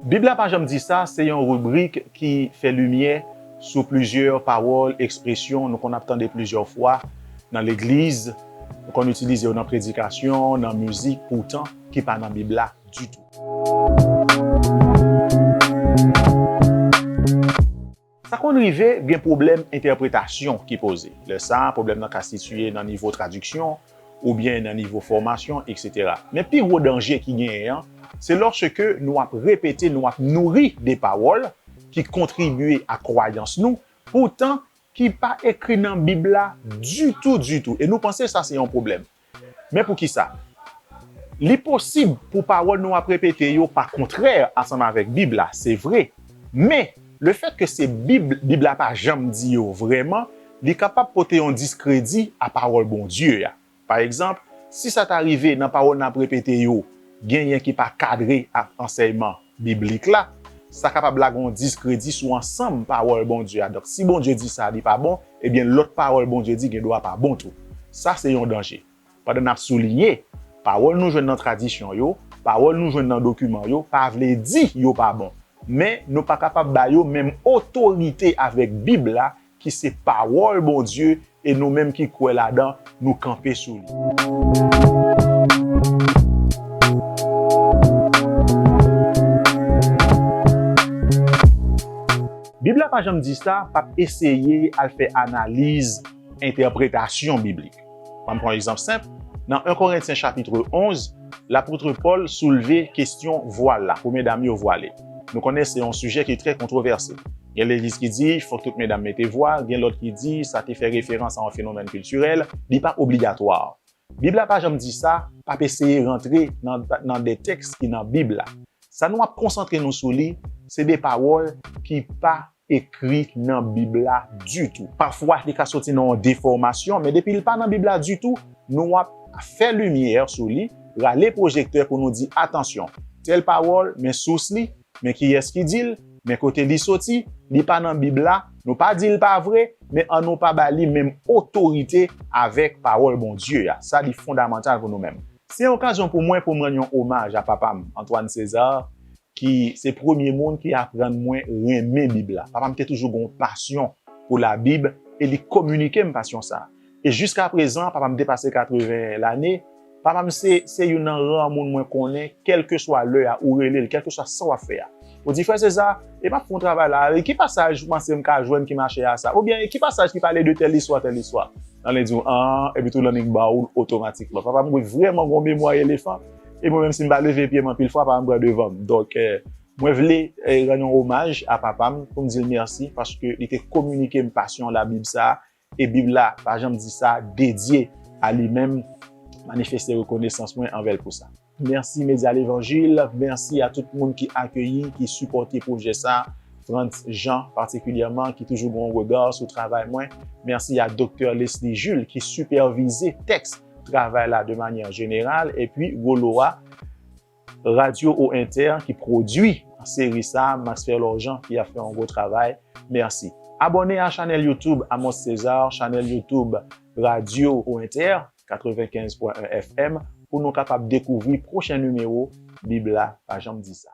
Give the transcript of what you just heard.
Bib la pa janm di sa se yon ribrik ki fè limyè sou plizyè pawòl, ekspresyon nou konn ap tande plizyè fwa nan legliz, nou konn itilize yo nan predikasyon, nan mizik poutan ki pa nan Bib la ditou. Sa konn rive gen pwoblèm entèpretasyon ki poze. Lè sa a, pwoblèm nan ka sitiye nan nivo tradiksyon, oubyen nan nivo fòmasyon, eksetera. Men pi gwo danje ki genyen an, se lòske nou ap repete, nou ap nouri de pawòl ki kontribye a kwayans nou, poutan ki pa ekri nan Bib la ditou, ditou, e nou panse sa se yon pwoblèm. Men poukisa? Li posib pou pawòl nou ap repete yo pa kontrè ansanm avèk Bib la, se vre. Men, lefètke se Bib, Bib la pa janm di yo vrèman, li kapab pote yon diskredi a pawòl Bondye a. Pa egzanp, si sa ta rive nan pawòl n ap repete yo genyen ki pa kadre ak ansèyman Biblik la, sa kapab lage yon diskredi sou ansanm Pawòl Bondye a. Donk, si Bondye di sa li pa bon, ebyen lòt pawòl Bondye di gen dwa pa bon tou. Sa se yon danje. Pandan n ap soulinye, pawòl nou jwenn nan tradisyon yo, pawòl nou jwenn nan dokiman yo pa vle di yo pa bon. Men, nou pa kapab ba yo menm otorite avèk Bib la ki se pawòl Bondye e nou menm ki kwè ladan nou kanpe sou li. Bib la pa janm di sa, pap eseye al fè analiz entèpretasyon biblik. An n pran yon egzanp senp, nan 1 Korentyen chapitre 11, lapotre Pòl soulve kesyon vwal la, pou medam yo vwale. Nou konnen se yon sijè ki trè kontwovèse. Gen legliz ki di fòk tout medam mete vwal, gen lòt ki di sa te fè referans a yon fenomèn kiltirèl, li pa obligatwa. Bib la pa janm di sa, pa p eseye rantre nan de tèks ki nan Bib la. Sa nou ap konsantre nou sou li, se de pawòl ki pa ekri nan Bib la ditou. Pafwa, li ka soti nan yon defòmasyon, men depi li pa nan Bib la ditou, nou ap fè limyè sou li, rale pwojektè pou nou di, atansyon, tèl pawòl, men sous li, men kiyès ki di l, men kote li soti, li pa nan Bib la, nou pa di l pa vre, men an nou pa ba li menm otorite avèk Pawòl Bondye a. Sa li fondamantal pou nou menm. Se yon okazyon pou mwen pou m rann yon omaj a papa m, Antoine César, ki se premye moun ki aprann mwen renmen Bib la. Papa m te toujou gen yon pasyon pou Labib e li kominike m pasyon sa a. E jiskaprezan, papa m depase 80 lane, papa m se se youn nan ra moun mwen konnen, kèlkeswa lè a, ou rele l, kèlkeswa sa w ap fè a, ou di, Frè Seza, e m ap fè yon travay la a, e ki pasaj ou panse m ka jwenn ki mache a sa? Oubyen, e ki pasaj ki pale de tèl istwa, tèl istwa? Nan li di w, An, epitou nan li ba w l otomatikman. Papa m gen vrèman gen yon memwa elefan. E mwen menm si m pa leve pye m anpil fwa papa m pran devan m. Donk mwen vle rann yon omaj a papa m pou m di l mèsi paske li te kominike m pasyon labib sa a e bib la pa janm di sa dedye a li menm manifeste rekonesans mwen anvè l pou sa. Mèsi Medya Levanjil, mèsi a tout moun ki akeyi, ki sipòte pwojè sa, Frantz Jean patikilyèman ki toujou gen yon rega sou travay mwen, mèsi a Doktè Lesly Jules ki sipèvize tèks. travay la de manyè jeneral epi Rolo a Radyo O Entè ki pwodwi seri sa Masfer Lorjan ki ap fè yon gwo travay mèsi Abòne a chanèl youtube Amos Cesar chanèl youtube Radyo O Entè 95 pwen 1 FM pou nou kapab dekouvri pwochen nimewo Bib la pa janm di sa.